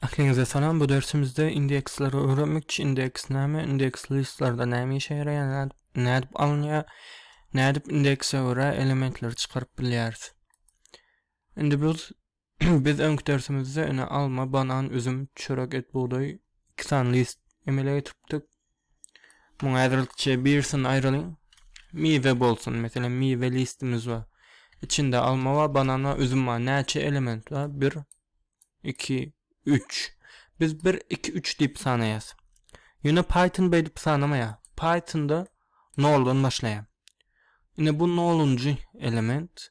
Ähliňize salam. Bu dersimizde indeksleri öwrenmekçi indeks näme, indeks listlarda näme işe ýaraýar, nädip alynýar, nädip indekse görä elementleri çykaryp bilýäris. Indi biz biz öňki dersimizde ine alma, banan, üzüm, çörek, et, bugdaý iki sany list emele getiripdik. Muňa ädrlikçe birisini aýralyň. Miwe bolsun, meselem, miwe listimiz bar. Içinde alma bar, banan bar, üzüm bar. Näçe element bar? Bir, iki, üç. Biz bir, iki, üç diýip sanaýas. Ýöne Python beýdip sanamaýar. Pythonda noldan başlaýar. Ine bu nolunjy element.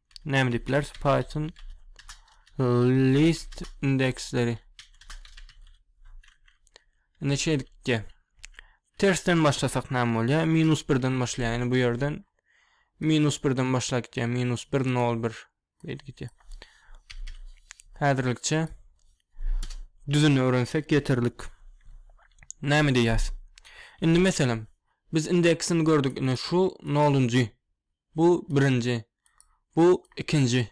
näme diýip bileris python list indeksleri indi şeýdikde tersden başlasak näme bolýar minus birden başlaýar ýani bu ýerden minus birden başlap gitýär minus bir nol bir beýdip gitýär häzirlikçe düzüni öwrensek ýeterlik näme diýýäs indi meselem biz indeksini gördük indi şu nolunjy Bu birinji, bu ikinji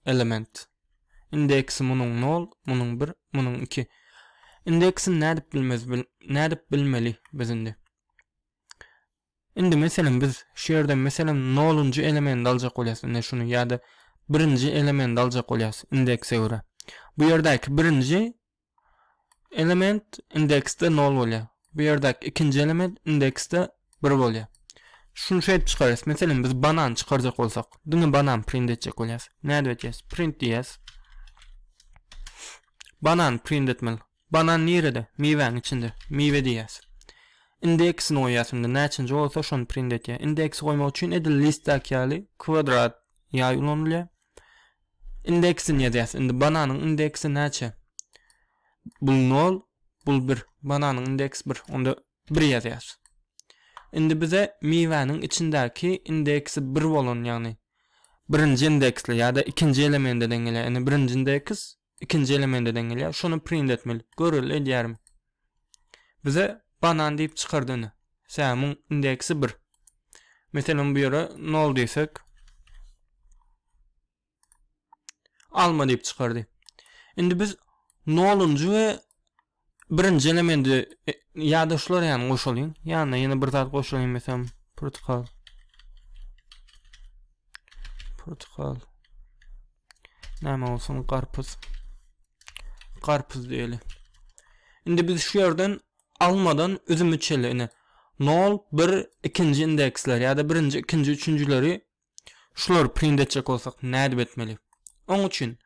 element. Indeksi munuň nol, munuň bir, munuň iki. Indeksini nädip bilmez, nädip bilmeli biz indi? Indi meselem biz şu ýerden meselem nolunjy elementi aljak bolýas, ine şuny ýa-da birinji elementi aljak bolýas indekse görä. Bu ýerdäki birinji element indeksde 0 bolýar. Bu ýerdäki ikinji element indeksde 1 bolýar. Şuny şeýdip çykarýas. Meselem biz banan çykarjak bolsak, diňe banan print etjek bolýas. Nädip etýäs? Print diýýäs. Banan print etmeli. Banan nirede? Miwäň içinde. Miwe diýýäs. Indeksini goýýas indi näçinji bolsa şony print etýär. Indeksi goýmak üçin edil listdäki ýaly kwadrat ýaý ulanylýar. Indeksini ýazýas. Indi bananyň indeksi näçe? Bul 0, bul 1. Bananyň indeks 1. Onda 1 ýazýas. Indi bize miwäniň içindäki indeksi 1 bolan, ýagny birinji indeksli ýa-da ikinji elementi deň gelýär. Indi birinji indeks Ikinji elementi deň gelýär. Şony print etmeli. Göreli edýärin. Bize banan diýip çykardy indi. Sämiň indeksi 1. Meselem bu ýere 0 diýsek. Alma diýip çykardy. Indi biz 0-njy we Birinji elementi e, ýa-da şular ýany goşalyň. Ýanyna ýene bir zat goşalyň meselem protokol. Protokol. Näme bolsun garpyz. Garpyz diýeli. Indi biz şu ýerden almadan üzümi çeli ine. 0 1 ikinji indeksler ýa-da birinji, ikinji, üçünjileri Şulary print etjek bolsak nädip etmeli? Oň üçin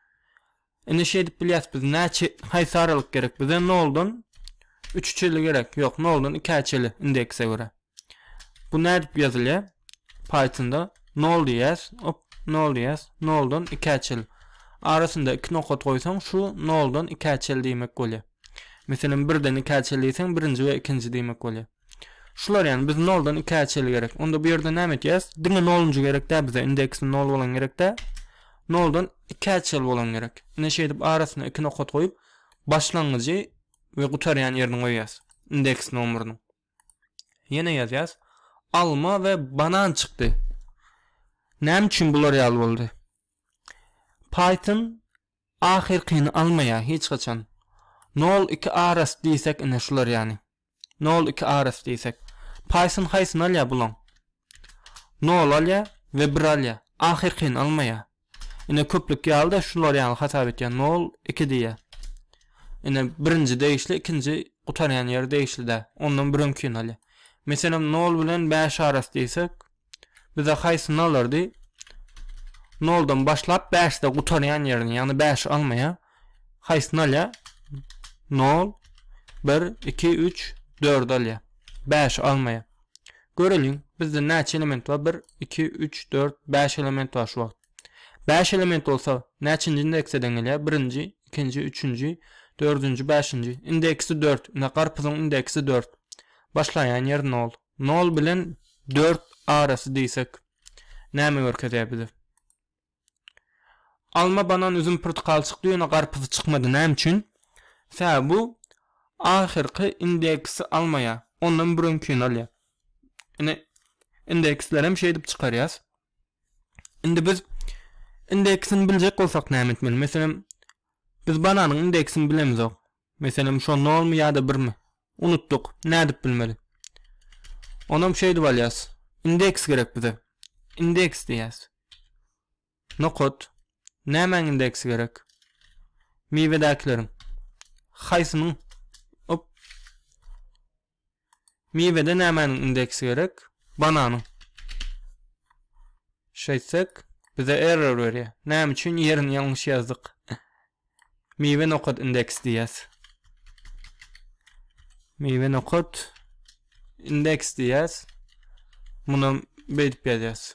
ine şeýdip bilýäs biz näçe haýsy aralyk gerek bize noldan üçe çeli gerek ýok noldan ikä çeli indekse görä. Bu nädip ýazylýar? Pythonda nol diýýäs op nol diýýäs noldan ikä çeli. Arasynda iki nokat goýsaň şu noldan ikä çeli diýmek bolýar. Meselem birden ikä çeli diýseň birinji we ikinji diýmek bolýar. Şular ýany biz noldan iki äçeli gerek. Onda bu ýerde näme etýäs? Diňe nolunjy gerek dä bize. Indeksi nol bolan gerek dä. Noldan iki äçeli bolan gerek. Ine şeýdip arasyna iki nokat goýup başlangyjy we gutarýan ýerini goýýas. Indeks nomerini. Ýene ýazýas. Alma we banan çykdy. Näme üçin bular ýaly boldy? Python Ahyrkyny almaýa hiç haçan. Nol iki aras diýsek ine şular ýany. Nol iki aras diýsek. Python haýsyny alýa bulaň. Nol alýa we bir alýa. Ahyrkyny almaýa. Ine köplük ýalyda şular ýaly hasap etýä. Nol iki diýä. Ine birinji degişli ikinji gutarýan ýeri degişli däl. Ondan bir öňkini alýa. Meselem nol bilen bäş aras diýsek. Bize haýsyny alardy? Noldan başlap bäşde gutarýan ýerini, ýagny bäşi almaýar. Haýsyny alýar? Nol, bir, iki, üç, dördi alýar. Bäşi almaýar. Göreliň, bizde näçe element bar? Bir, iki, üç, dört, bäş element bar şu wagt. Bäş element bolsa, näçinji indekseden gelýär? Birinji, ikinji, üçünji, dördünji, bäşinji. Indeksi dört. Ine, garpyzyň indeksi dört. Başlaýan ýeri nol. Nol bilen dört arasy diýsek, näme görkezýär bize? Alma, banan, üzüm, pyrtykal çykdy, ýöne garpyz çykmady. Näme üçin? Sebäbi bu ahyrky indeksi almaýar. Ondan bir öňkini alýar. Ine, indeksleri hem şeýdip çykarýas. Indi biz indeksini biljek bolsak näme etmeli? Meselem, biz bananyň indeksini bilemizok. Meselem şo nolmy ýa-da birmi? Unutdyk. Nädip bilmeli? Onam şeýdip alýas. Indeks gerek bize. Indeks diýýäs. Nokat. Nämäň indeksi gerek? Miwedäkileriň. Haýsynyň? Op. Miwede nämäniň indeksi gerek? Bananyň. Şeýtsek, bize error berýär. Näme üçin ýerini ýalňyş ýazdyk? Miwe nokat indeks diýýäs. Miwe nokat indeks diýýäs. Muny beýdip ýazýas.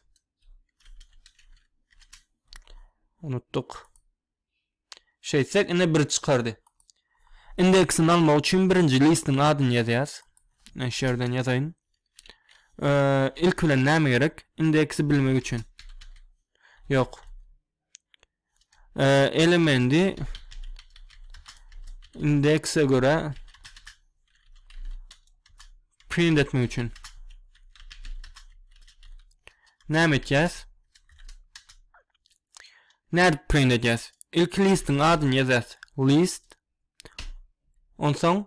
Unutduk. Şeýtsek, ine bir çykardy. Indeksini almak üçin birinji listiň adyny ýazýas. Men şu ýerden ýazaýyn. Ilk bilen näme gerek? Indeksi bilmek üçin. Ýok. Elementi indekse görä print etmek üçin. Näme etýäs? Nädip print edýäs? Ilki listiň adyny ýazýas. List. Onsoň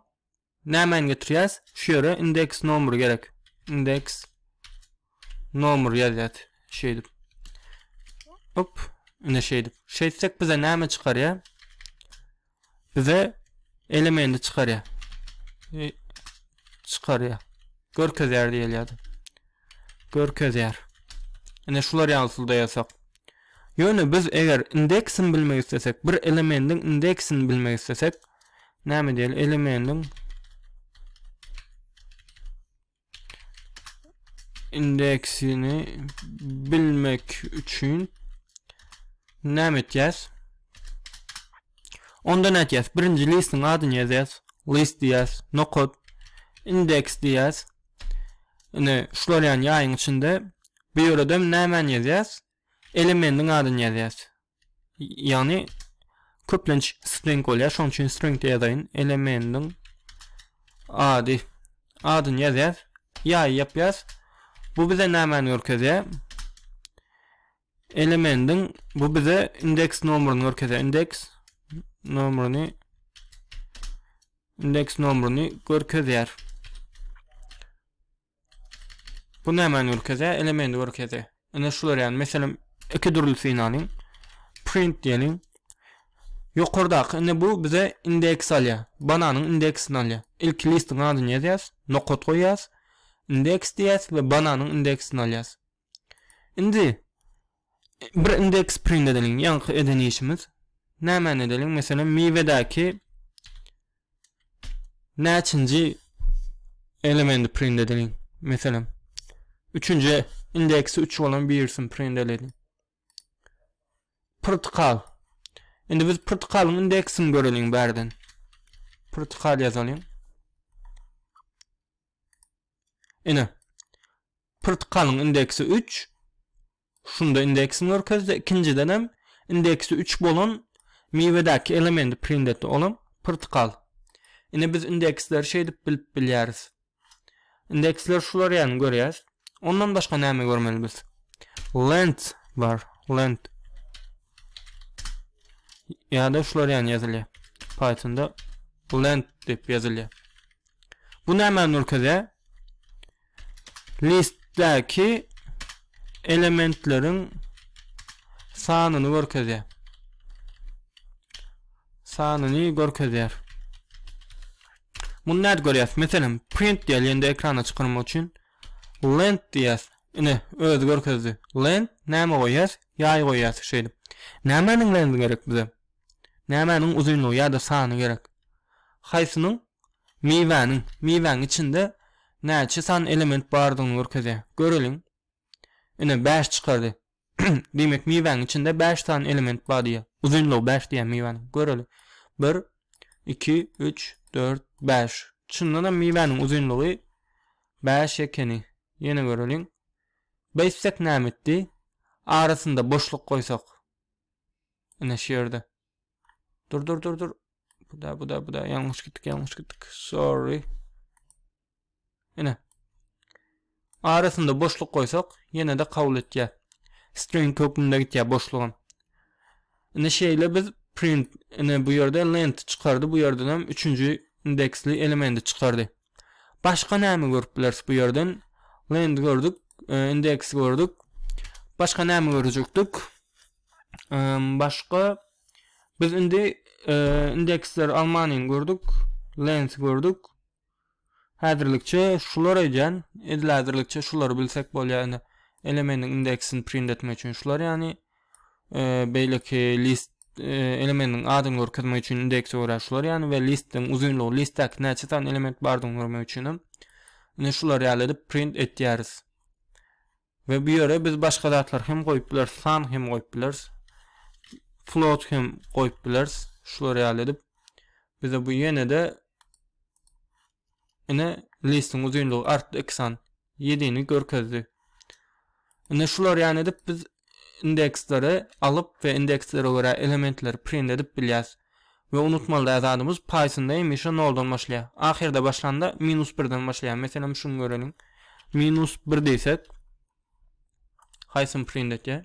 nämäni getirýäs? Şu ýere indeks nomry gerek. Indeks nomry ýazýas. Şeýdip. Hop, ine şeýdip. Şeýtsek bize näme çykarýar? bize elementi çykarýar. E, çykarýar. Görkezýär diýilýärdi. Görkezýär. Ine şular ýaly usulda ýasak. Ýöne biz eger indeksini bilmek islesek, bir elementin indeksini bilmek islesek, näme diýeli? Elementin indeksini bilmek üçin näme etýäs? Onda näme etýäs? Birinji listiň adyny ýazýas. List diýýäs. Nokat indeks diýýäs. Ine, şular ýaýyň içinde bu ýerde näme ýazýas? elemendiň adyny ýazýas. Ýagny köplenç string bolýar, şonuň üçin string diýip ýazaýyn. Elemendiň ady adyny ýazýas, ýaý ýapýas. Bu bize nämäni görkezýär? Elemendiň bu bize indeks nomerini görkezýär. Indeks nomerini indeks nomerini görkezýär. Bu nämäni görkezýär? Elementi görkezýär. Ine şular ýaly. Meselem, iki dürlüsini alyň. Print diýeliň. Ýokardaky indi bu bize indeks alýar. Bananyň indeksini alýar. Ilki listiň adyny ýazýas, nokat goýýas, indeks diýýäs we bananyň indeksini alýas. Indi bir indeks print edeliň. Ýaňky eden işimiz. Nämäni edeliň? Meselem, miwedäki näçinji elementi print edeliň. Meselem, üçünji indeksi 3 bolan birisini print edeliň. Protikal. Indi biz protikalyň indeksini göreliň bärden. Protikal ýazalyň. Ine, pyrtykalyň indeksi üç, şunda indeksi merkezde, ikinjiden hem indeksi üç bolan miwedäki elementi print etdi, ol hem pyrtykal. Ine, biz indeksleri şeýdip bilip bilýäris. Indeksleri şular ýaly görýäs. Ondan başga näme görmeli biz? Lent bar, lent. Ýa-da şular ýaly ýazylýar. Pythonda lent diýip ýazylýar. Bu näme nurkede? Listdäki elementleriň sanyny görkezýär. Sanyny görkezýär. Muny näde görýäs? Meselem, print diýilende ekrana çykarmak üçin lent diýýäs. Ine, özi görkezdi. Lent näme goýýas? Ýaý goýýas şeýdip. Nämäniň lendi gerek bize? Nämäniň uzynlygy ýa-da sany gerek? Haýsynyň? Miwäniň. Miwäň içinde näçe sany element bardygyny görkezýär. Göreliň. Ine, bäş çykardy. Diýmek, miwäň içinde bäş sany element bar diýýär. Uzynlygy bäş diýýär miwäniň. Göreliň. Bir, iki, üç, dört, bäş. Çyndan hem miwäniň uzynlygy bäş ekeni. Ýene göreliň. Beýtsek näme etdi? Arasynda boşluk goýsak. Ine şu yerde. Dur dur dur dur. Bu da bu da bu da yanlış gittik yanlış gittik. Sorry. Ine. Arasında boşluk koysak yine de kabul et ya. String kökünde git ya boşluğun. Ine şeyle biz print ine bu yerde lent çıkardı bu yerden hem üçüncü indeksli elementi çıkardı. Başga näme görüp bileris bu ýerden? Land gördük, indeks gördük. Başga näme görjekdik? Başga biz indi indeksler Almanyny gördük, Land gördük. Häzirlikçe şular edýän, edil häzirlikçe şulary bilsek bolýar indi. Elementin indeksini print etmek üçin şular ýany beýleki list elementiň adyny görkezmek üçin indeksi görä şular ýaly we listiň uzynlygy listdäki näçe sany element bardygyny görmek üçin hem ine şular ýaly edip print etýäris we bu ýere biz başga zatlar hem goýup bileris san hem goýup bileris float hem goýup bileris şular ýaly edip bize bu ýene-de ine listiň uzynlygy artdy 2 san ýediğini görkezdi. Indi şular ýaly edip biz indeksleri alyp we indekslere görä elementleri print edip bilýäs. We unutmaly däl zadymyz Pythonda hemişe noldan başlaýar. Ahyrda başlanda minus birden başlaýar. Meselem şuny göreliň. Minus bir diýsek haýsyny print etýär?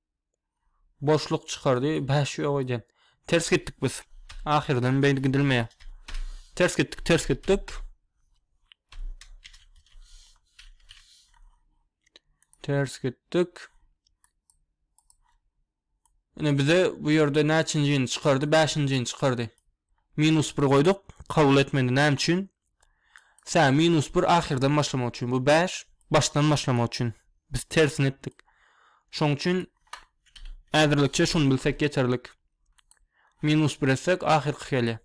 Boşluk çykardy. Bäş ýok edýän. Ters gitdik biz. Ahyrdan beýle gidilmeýär. Ters gitdik, ters gitdik. Ters gitdik. Ine bize bu ýerde näçinjini çykardy? 5-njini çykardy. Minus 1 goýduk. Kabul etmedi. Näme üçin? Sä minus bir ahyrdan başlamak üçin bu bäş başdan başlamak üçin biz tersini etdik. Şoň üçin ädirlikçe şuny bilsek ýeterlik. Minus bir etsek ahyrky gelýär.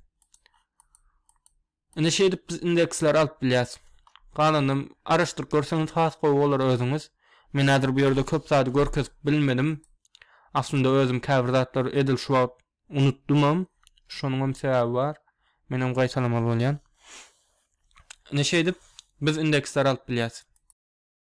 Indi şeýdip biz indeksleri alyp bilýäs. Galanam araşdyryp görseňiz has gowy bolar özüňiz. Men häzir bu ýerde köp zady görkezip bilmedim. Aslynda özüm käbir zatlar edil şu wagt Unutdymam, şonuňam sebäbi bar. Menem gaýtalamaly bolýan. Ine şeýdip, biz indeksleri alyp bilýäs.